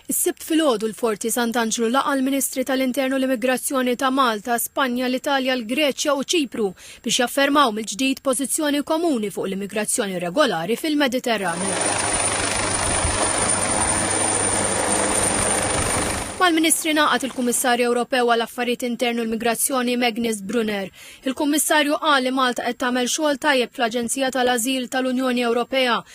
Is-Sibt filgħodu l-Forti Sant'Anġlu laqa' l-Ministri tal-Intern u l-Immigrazzjoni ta' Malta, Spanja, l-Italja, l-Greċja u Ċipru biex jaffermaw mill-ġdid pożizzjoni komuni fuq l-immigrazzjoni regolari fil-Mediterran. Mal-Ministri ngħaqad il-Kummissarju Ewropew għal Affarijiet Interni u l-Migrazzjoni Magnus Brunner. Il-Kummissarju qal li Malta qed tagħmel xogħol tajjeb fl-Aġenzija tal-Ażil tal-Unjoni Ewropea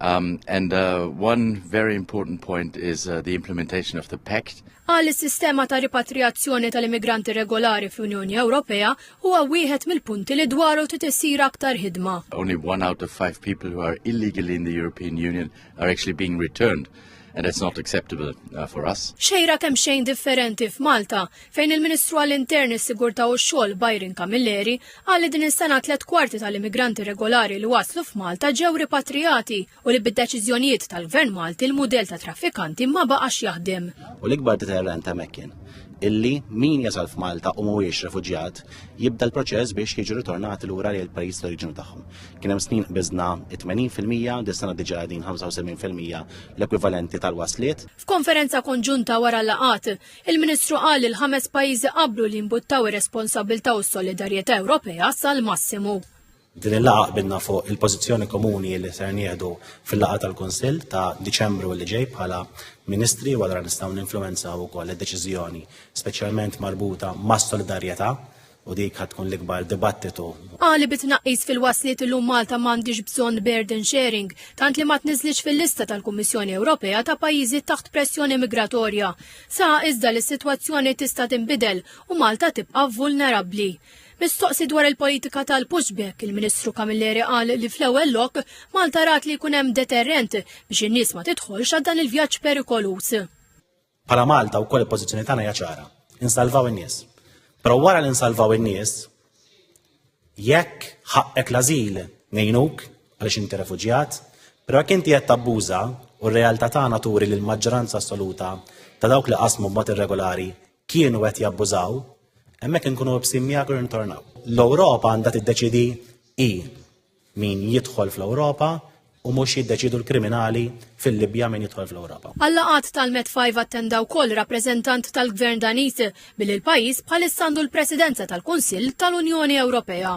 Um, and uh, one very important point is uh, the implementation of the pact. Għal is-sistema ta' ripatrijazzjoni tal-immigranti regolari fl-Unjoni Ewropea huwa wieħed mill-punti li dwaru titissir aktar ħidma. Only one out of five people who are illegally in the European Union are actually being returned. and it's not acceptable uh, for us. Xejra kemm xejn differenti f'Malta fejn il-Ministru għall-Intern is-Sigurtà u x-Xogħol Byron Camilleri qal li din is-sena tliet kwarti tal-immigranti regolari li waslu f'Malta ġew ripatrijati u li bid-deċiżjonijiet tal-Gvern Malti l-mudell ta' traffikanti ma baqax jaħdem. U l-ikbar deterrent ta' Mekkin illi min jasal f'Malta u mhuwiex refuġjat jibda l-proċess biex jiġu ritornati lura lejn il-pajjiż tal-oriġinu tagħhom. Kien hemm snin qbiżna 80%, dis-sena diġà qegħdin 75% l-ekwivalenti tal-wasliet. F'konferenza konġunta wara l-laqgħat, il-Ministru qal li l-ħames pajjiżi qablu li jimbuttaw ir-responsabbiltà u s-solidarjetà Ewropea sal-massimu. Din il-laqgħa qbilna fuq il-pożizzjoni komuni li ser nieħdu fil-laqgħa tal-Kunsill ta' Diċembru li ġej bħala Ministri u allura nistgħu ninfluwenzaw ukoll id-deċiżjoni, speċjalment marbuta mas-solidarjetà u dik ħad tkun l-ikbar dibattitu. Qali bi tnaqqis fil-wasliet illum Malta m'għandhiex bżonn burden sharing, tant li ma tniżlitx fil-lista tal-Kummissjoni Ewropea ta' pajjiżi taħt pressjoni migratorja. Saħaq iżda li s-sitwazzjoni tista' tinbidel u Malta tibqa' vulnerabbli. Mistoqsi dwar il-politika tal-pushback, il-Ministru Camilleri qal li fl-ewwel lok Malta rat li jkun hemm deterrent biex in-nies ma tidħolx għal dan il-vjaġġ perikoluż. Bħala Malta wkoll il-pożizzjoni tagħna hija ċara. Insalvaw in-nies. Però wara li nsalvaw in-nies, jekk ħaqqek l-azil ngħinuk għaliex inti refuġjat, però jekk inti qed tabbuża u r-realtà tagħna turi li l-maġġoranza assoluta ta' dawk li qasmu b'mod irregolari kienu qed jabbużaw, hemmhekk inkunu bsim miegħek u ntornaw. L-Ewropa għandha tiddeċidi i Min jidħol fl-Ewropa u mhux jiddeċiedu l-kriminali fil-Libja min jidħol fl-Ewropa. Għal-laqgħat tal-Met 5 attenda wkoll rappreżentant tal-Gvern Daniż billi l-pajjiż bħalissa għandu l-Presidenza tal-Kunsill tal-Unjoni Ewropea.